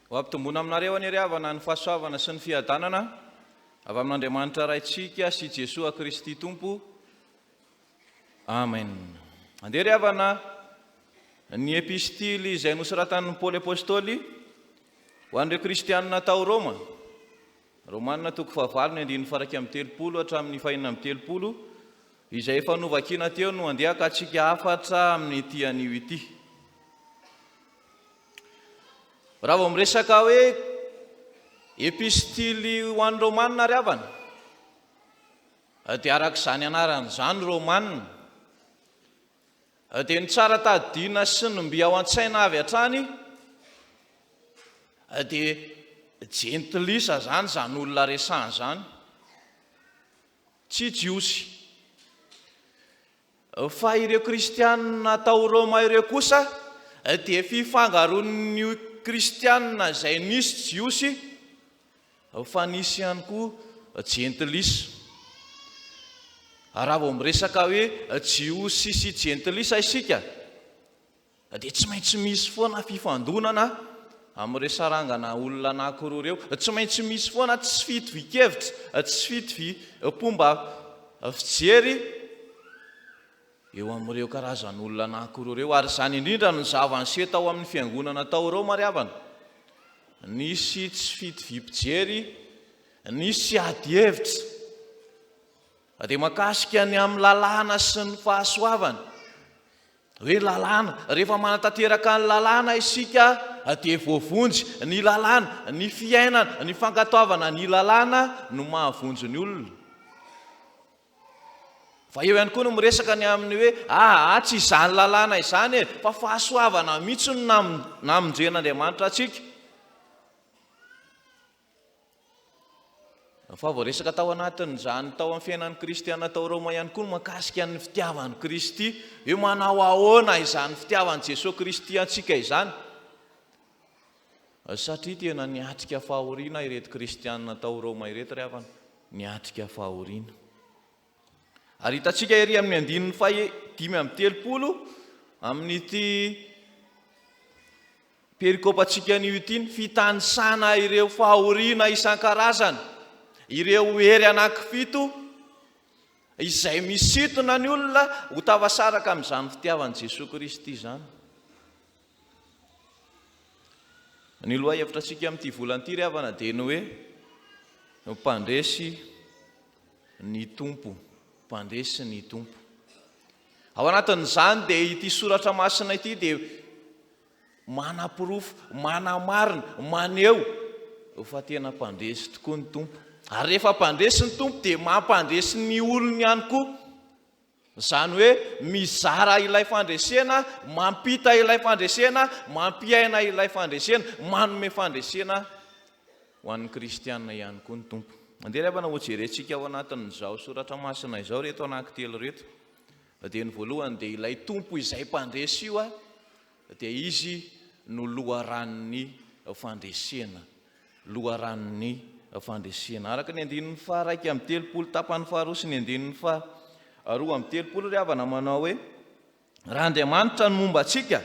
Ho ampitomboina aminareo anie ry havana ny fahasoavana sy ny fiadanana avy amin'Andriamanitra Raintsika sy Jesoa Kristy Tompo. Amen. Andeha ry havana ny epistily izay nosoratan'i Paoly Apôstôly ho an'ireo Kristianina tao Rôma. Romana toko fahavalo ny andininy faha-iraika amby telopolo hatramin'ny fahenina amby telopolo izay efa novakiana teo no handeha ka tsika hafatra amin'ity anio ity. Raha vao miresaka hoe epistily ho an'ny Romana ry havana dia araka izany anarany izany Romana. dia ny tsara tadidiana sy ny mby ao an-tsaina avy hatrany dia jentilisa izany izany olona resahana izany, tsy Jiosy. Fa ireo Kristianina tao Roma ireo kosa dia fifangaroan'io Kristianina izay nisy Jiosy fa nisy ihany koa jentilisa. Ary raha vao miresaka hoe jiosy sy jentilisa isika dia tsy maintsy misy foana fifandonana amin'ireo sarangana olona anankiroa ireo. Tsy maintsy misy foana tsy fitovian-kevitra, tsy fitoviam-pomba fijery. eo amin'ireo karazan'olona anankiroa ireo ary izany indrindra no zava-niseho tao amin'ny fiangonana tao Roma ry havana. Nisy tsy fitoviam-pijery, nisy ady hevitra. Na dia mahakasika ny amin'ny lalàna sy ny fahasoavana. Hoe lalàna, rehefa manatanteraka ny lalàna isika dia voavonjy ny lalàna, ny fiainana, ny fankatoavana ny lalàna no mahavonjy ny olona. Fa eo ihany koa no miresaka ny amin'ny hoe, aa, tsy izany lalàna izany e, fa fahasoavana mihitsy no namonjen'Andriamanitra antsika. Fa voaresaka tao anatin'izany tao amin'ny fiainan'ny kristiana tao Roma ihany koa ny mahakasika ny fitiavan'i Kristy. Hoe manao ahoana izany fitiavan'i Jesoa Kristy antsika izany? Satria tena niatrika fahoriana ireto kristiana tao Roma ireto ry havana, niatrika fahoriana. Ary hitantsika ery amin'ny andininy faha dimy amby telopolo amin'ity perikopantsika anio ity ny fitanisana ireo fahoriana isan-karazany, ireo hery anankifito izay misintona ny olona ho tafasaraka amin'izany fitiavan'i Jesoa Kristy izany. Ny lohahevitra antsika amin'ity volana ity ry havana dia ny hoe mpandresy ny Tompo, mpandresy ny Tompo. Ao anatin'izany dia ity soratra masina ity dia manaporofo, manamarina, maneho fa tena mpandresy tokoa ny Tompo. Ary rehefa mpandresy ny Tompo dia mampandresy ny olony ihany koa. Izany hoe mizara ilay fandresena, mampita ilay fandresena, mampiaina ilay fandresena, manome fandresena ho an'ny kristiana ihany koa ny Tompo. Andeha ry havana hojerentsika ao anatin'izao soratra masina izao ireto anankitelo ireto. Dia ny voalohany dia ilay Tompo izay mpandresy io a. dia izy no loharanon'ny fandresena, loharanon'ny fandresena. Araka ny andininy faha iraika amby telopolo tapany faharoa sy ny andininy faha roa amby telopolo ry havana manao hoe, Raha Andriamanitra no momba antsika,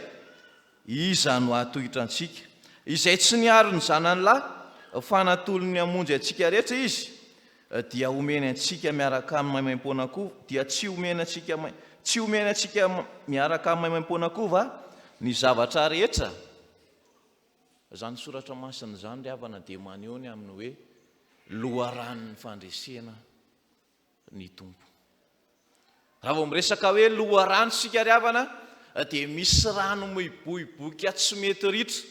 iza no hahatohitra antsika? Izay tsy niaro ny zanany lahy fa natolony hamonjy antsika rehetra Izy, dia omeny antsika miaraka amin'ny maimaim-poana koa, dia tsy omeny antsika mai, tsy omeny antsika miaraka amin'ny maimaim-poana koa va ny zavatra rehetra? Izany soratra masina izany ry havana dia maneho ny amin'ny hoe loharanon'ny fandresena ny Tompo. Raha vao miresaka hoe loharano isika ry havana dia misy rano miboiboika tsy mety ritra.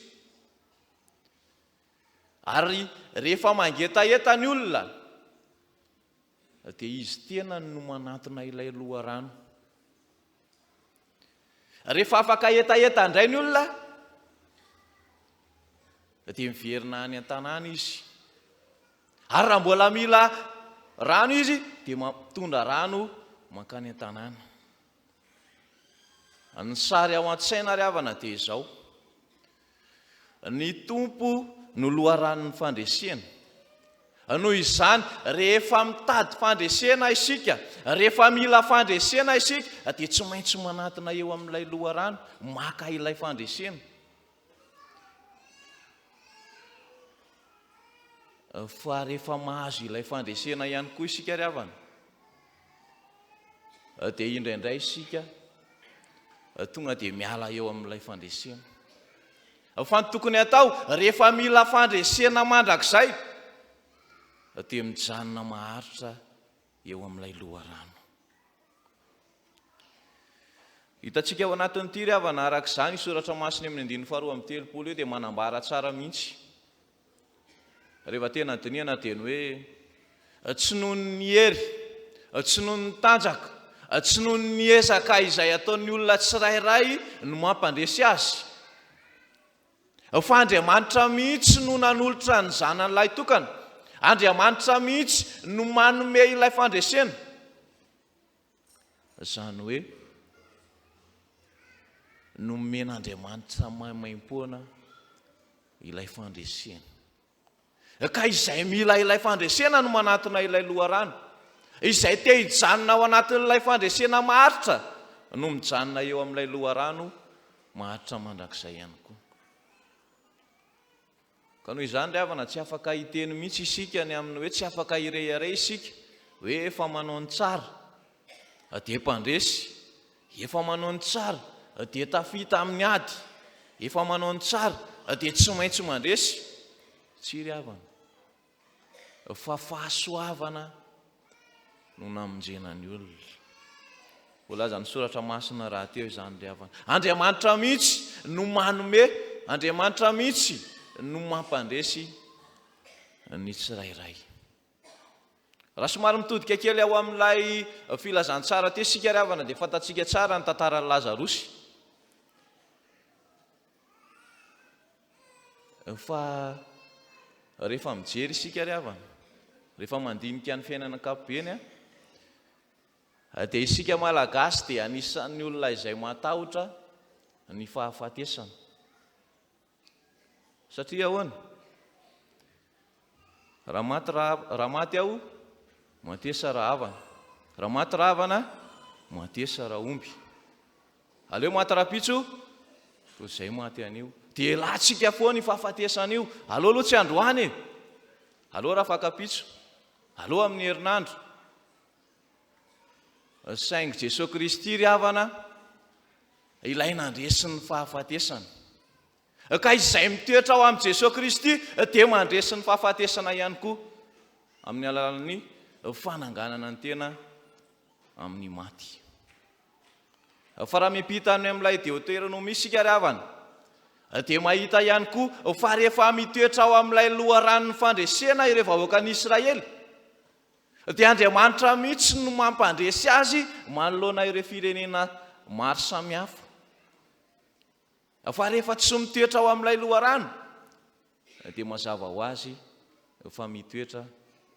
Ary rehefa mangetaheta ny olona dia izy tenany no manantona ilay loharano. Rehefa afaka hetaheta indray ny olona dia miverina any an-tanàna izy. Ary raha mbola mila rano izy dia mampitondra rano mankany an-tanàna. Ny sary ao an-tsaina ry havana dia izao. Ny Tompo no loharanon'ny fandresena. Noho izany, rehefa mitady fandresena isika, rehefa mila fandresena isika, dia tsy maintsy manatona eo amin'ilay loharano, maka ilay fandresena. Fa rehefa mahazo ilay fandresena ihany koa isika ry havana, dia indraindray isika tonga dia miala eo amin'ilay fandresena. Fa ny tokony atao rehefa mila fandresena mandrakizay dia mijanona maharitra eo amin'ilay loharano. Hitantsika ao anatin'ity ry havana araka izany soratra masina amin'ny andininy faharoa amin'ny telopolo io dia manambara tsara mihitsy Rehefa tena dinihana dia ny hoe, tsy noho ny hery, tsy noho ny tanjaka, tsy noho ny ezaka izay ataon'ny olona tsirairay no mampandresy azy, fa Andriamanitra mihitsy no nanolotra ny Zanany lahitokana, Andriamanitra mihitsy no manome ilay fandresena. Izany hoe nomen'Andriamanitra maimaim-poana ilay fandresena. Ka izay mila ilay fandresena no manatona ilay loharano. Izay te hijanona ao anatin'ilay fandresena maharitra no mijanona eo amin'ilay loharano maharitra mandrakizay ihany koa. Ka noho izany ry havana tsy afaka hiteny mihitsy isika ny amin'ny hoe tsy afaka hirehareha isika hoe efa manao ny tsara dia mpandresy, efa manao ny tsara dia tafita amin'ny ady, efa manao ny tsara dia tsy maintsy mandresy. Tsia ry havana. Fa fahasoavana no namonjena ny olona. Voalazan'ny soratra masina rahateo izany ry havana. Andriamanitra mihitsy no manome, Andriamanitra mihitsy no mampandresy ny tsirairay. Raha somary mitodika kely ao amin'ilay filazantsara teo isika ry havana dia fantatsika tsara ny tantaran'i Lazarosy. Fa rehefa mijery isika ry havana, rehefa mandinika ny fiainana ankapobeny, dia isika Malagasy dia anisan'ny olona izay matahotra ny fahafatesana. Satria ahoana? Raha maty raha maty aho, matesa raha havana. Raha maty raha havana, matesa raha omby. Aleo maty raha pitso, toy izay maty anio. Dia elantsika foana io fahafatesana io. Aleo aloha tsy androany e. Aleo raha fakapitso. Aleo amin'ny herinandro. Saingy Jesoa Kristy ry havana, ilay nandresy ny fahafatesana. Ka izay mitoetra ao amin'i Jesoa Kristy dia mandresy ny fahafatesana ihany koa amin'ny alalan'ny fananganana ny tena amin'ny maty. Fa raha miampita any amin'ilay Deoteronomia isika ry havana, dia mahita ihany koa fa rehefa mitoetra ao amin'ilay loharanon'ny fandresena ireo vahoakan'i Israely, dia Andriamanitra mihitsy no mampandresy azy manoloana ireo firenena maro samihafa. Fa rehefa tsy mitoetra ao amin'ilay loharano, dia mazava ho azy fa mitoetra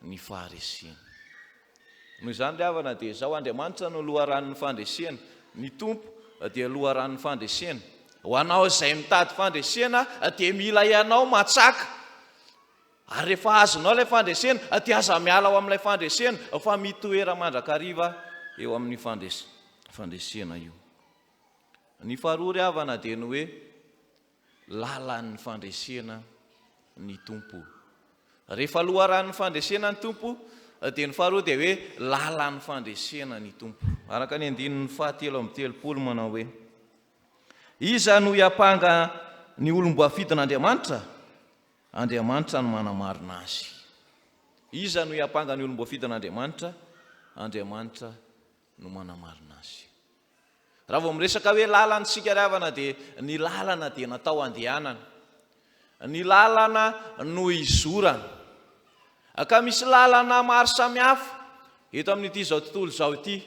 ny faharesena. Noho izany ry havana, dia izao, Andriamanitra no loharanon'ny fandresena, ny Tompo dia loharanon'ny fandresena. Ho anao izay mitady fandresena, dia mila ianao matsaka. Ary rehefa azonao ilay fandresena, dia aza miala ao amin'ilay fandresena, fa mitoera mandrakariva eo amin'ny fandresena io. Ny faharoa ry havana dia ny hoe lalan'ny fandresena ny Tompo. Rehefa loharanon'ny fandresena ny Tompo dia ny faharoa dia hoe lalan'ny fandresena ny Tompo. Araka ny andininy fahatelo amby telopolo manao hoe Iza no hiampanga ny olom-boafidin'Andriamanitra? Andriamanitra no manamarina azy. Iza no hiampanga ny olom-boafidin'Andriamanitra? Andriamanitra no manamarina azy. Raha vao miresaka hoe lalana isika ry havana dia ny lalana dia natao handehanana. Ny lalana no izorana. Ka misy lalana maro samihafa eto amin'ity izao tontolo izao ity.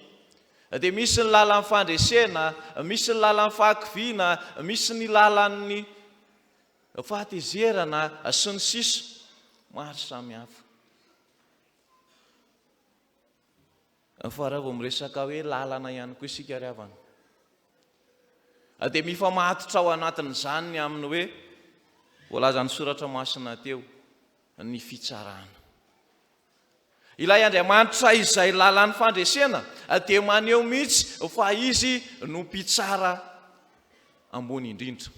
Dia misy ny lalan'ny fandresena, misy ny lalan'ny fahakiviana, misy ny lalan'ny fahatezerana sy ny sisa maro samihafa. Fa raha vao miresaka hoe lalana ihany koa isika ry havana dia mifamatotra ao anatin'izany ny amin'ny hoe voalazan'ny soratra masina teo ny fitsarana. Ilay Andriamanitra izay lalan'ny fandresena dia maneho mihitsy fa izy no mpitsara ambony indrindra.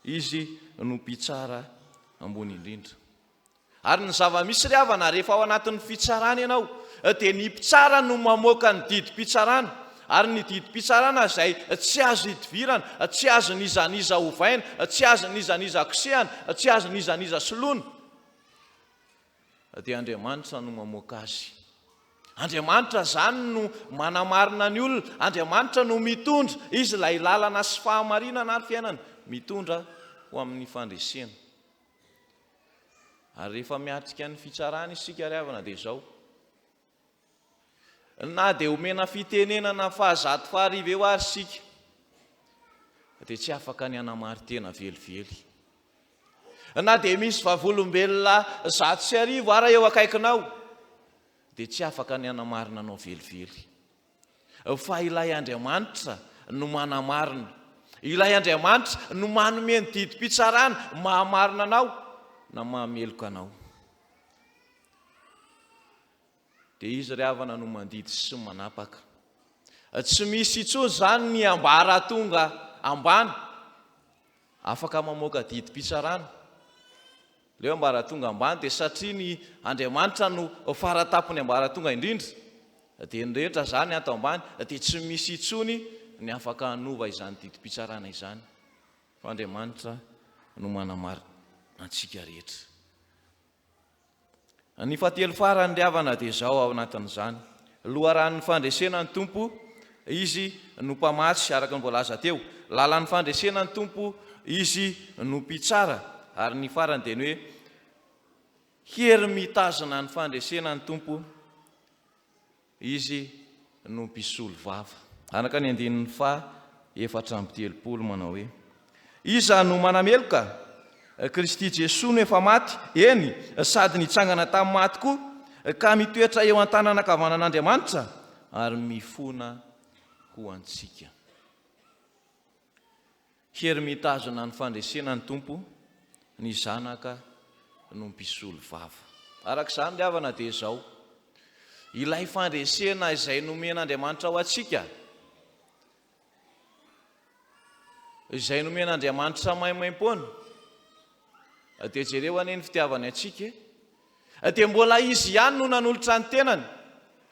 Izy no mpitsara ambony indrindra. Ary ny zava-misy ry havana, rehefa ao anatin'ny fitsarana ianao, dia ny mpitsara no mamoaka ny didim-pitsarana, ary ny didim-pitsarana izay tsy azo idivirana, tsy azon'iza n'iza ovaina, tsy azon'iza n'iza kosehana, tsy azon'iza n'iza soloina, dia Andriamanitra no mamoaka azy. Andriamanitra izany no manamarina ny olona, Andriamanitra no mitondra, Izy ilay lalana sy fahamarinana ary fiainana, mitondra ho amin'ny fandresena. Ary rehefa miatrika ny fitsarana isika ry havana dia izao. Na dia omena fitenenana fahazato fahariva eo ary isika dia tsy afaka ny hanamari-tena velively. Na dia misy vavolombelona zato sy arivo ara eo akaikinao dia tsy afaka ny hanamarina anao velively. Fa ilay Andriamanitra no manamarina. Ilay Andriamanitra no manome ny didim-pitsarana maha-marina anao na maha-meloka anao. Dia izy ry havana no mandidy sy manapaka. Tsy misy intsony izany ny ambaratonga ambany afaka mamoaka didim-pitsarana. Leo ambaratonga ambany dia satria ny Andriamanitra no faratampony ambaratonga indrindra dia ny rehetra zany ato ambany dia tsy misy intsony ny afaka hanova izany didim-pitsarana izany fa Andriamanitra no manamarina antsika rehetra. Ny fahatelo farany ry havana dia izao ao anatin'izany loharanon'ny fandresena ny Tompo Izy no mpamatsy araka ny voalaza teo, lalan'ny fandresena ny Tompo Izy no mpitsara ary ny farany dia ny hoe hery mitazona ny fandresena ny Tompo Izy no mpisolo vava. Araka ny andininy faha efatra amby telopolo manao hoe, Iza no manameloka? Kristy Jesoa no efa maty, eny, sady nitsangana tamin'ny maty koa, ka mitoetra eo an-tanana ankavanan'Andriamanitra ary mifona ho antsika. Hery mitazona ny fandresena ny Tompo, ny zanaka no mpisolo vava. Araka izany ry havana dia izao, ilay fandresena izay nomen'Andriamanitra ho antsika, izay nomen'Andriamanitra maimaimpoana, dia jereo anie ny fitiavany antsika e! dia mbola Izy ihany no nanolotra ny tenany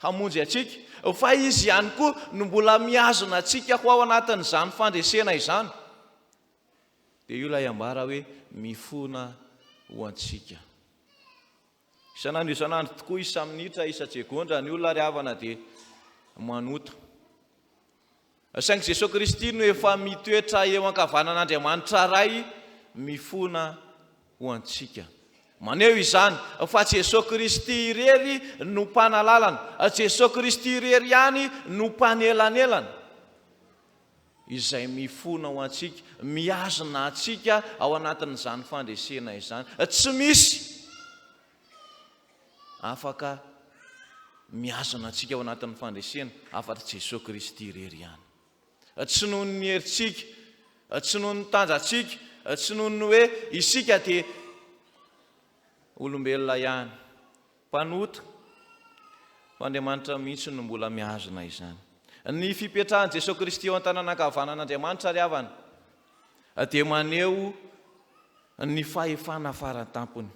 hamonjy antsika, fa Izy ihany koa no mbola mihazona antsika ho ao anatin'izany fandresena izany. Dia io ilay ambara hoe mifona ho antsika. Isan'andro isan'andro tokoa, isa-minitra, isa-tsegondra, ny olona ry havana dia manota. Saingy Jesoa Kristy no efa mitoetra eo ankavanan'Andriamanitra Ray mifona ho antsika. Maneho izany fa Jesoa Kristy irery no Mpanalalana, Jesoa Kristy irery ihany no Mpanelanelana, izay mifona ho antsika, mihazona antsika ao anatin'izany fandresena izany. Tsy misy. afaka mihazona antsika ao anatin'ny fandresena afa-tsy Jesoa Kristy irery ihany. Tsy noho ny herintsika, tsy noho ny tanjatsika, tsy noho ny hoe isika dia olombelona ihany, mpanota, fa Andriamanitra mihitsy no mbola mihazona izany. Ny fipetrahan'i Jesoa Kristy eo an-tanana ankavanan'Andriamanitra ry havana dia maneho ny fahefana faran-tampony.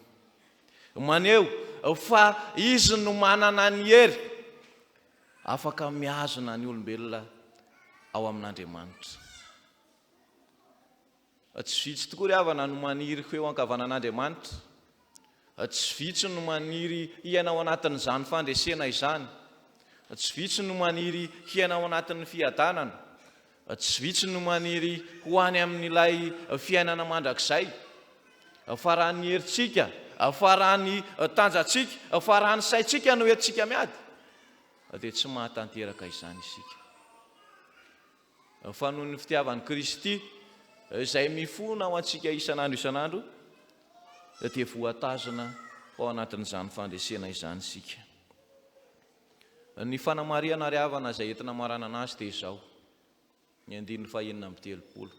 Maneho fa izy no manana ny hery afaka mihazona ny olombelona ao amin'Andriamanitra. Tsy vitsy tokoa ry havana no maniry ho eo ankavanan'Andriamanitra. Tsy vitsy no maniry hiaina ao anatin'izany fandresena izany. Tsy vitsy no maniry hiaina ao anatin'ny fiadanana. Tsy vitsy no maniry ho any amin'ilay fiainana mandrakizay. Faran'ny herintsika, faran'ny tanjatsika, faran'ny saintsika no entintsika miady, dia tsy mahatanteraka izany isika. Fa noho ny fitiavan'i Kristy, izay mifona ao antsika isan'andro isan'andro, dia voatazona ao anatin'izany fandresena izany isika. Ny fanamarihana ary havana izay entina hamaranana azy dia izao, ny andininy faha enina amby telopolo,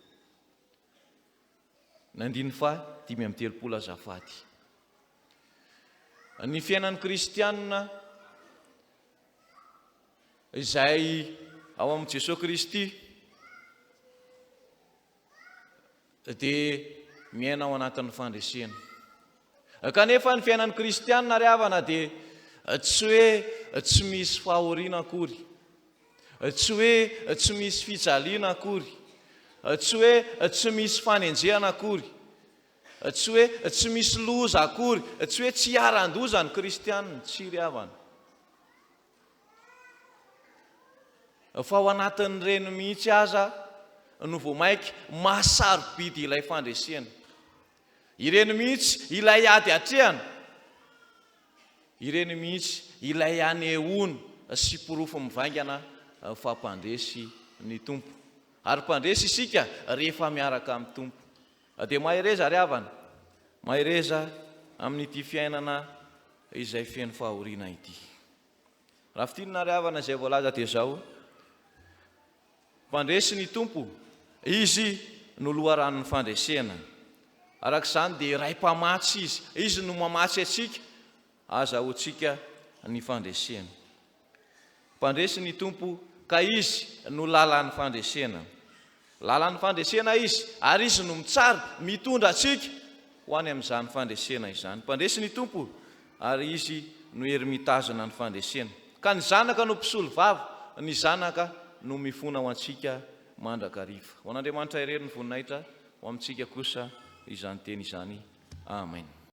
ny andininy faha dimy amby telopolo azafady. Ny fiainan'ny kristianina izay ao amin'i Jesoa Kristy, dia miaina ao anatin'ny fandresena. Kanefa ny fiainan'ny kristianina ry havana dia tsy hoe tsy misy fahoriana akory, tsy hoe tsy misy fijaliana akory, tsy hoe tsy misy fanenjehana akory, tsy hoe tsy misy loza akory, tsy hoe tsy hiaran-doza ny kristianina, tsy ry havana. fa ao anatin'ireny mihitsy aza no vao mainka maha-sarobidy ilay fandresena. Ireny mihitsy ilay ady atrehana, ireny mihitsy ilay anehoana sy porofo mivaingana fa mpandresy ny Tompo. Ary mpandresy isika rehefa miaraka amin'ny Tompo. Na dia mahereza àry havana, mahereza amin'ity fiainana izay feno fahoriana ity. Raha fintinina àry havana izay voalaza dia izao, Mpandresy ny Tompo, Izy no loharanon'ny fandresena. Araka izany dia iray Mpamatsy Izy, Izy no mamatsy antsika, azahoantsika ny fandresena. Mpandresy ny Tompo, ka Izy no lalan'ny fandresena. Lalan'ny fandresena Izy, ary Izy no mitsara, mitondra antsika ho any amin'izany fandresena izany. Mpandresy ny Tompo, ary Izy no hery mitazona ny fandresena. Ka ny Zanaka no mpisolovava, ny Zanaka no mifona ho antsika mandrakariva. Ho an'Andriamanitra irery ny voninahitra, ho amintsika kosa izany teny izany. Amen.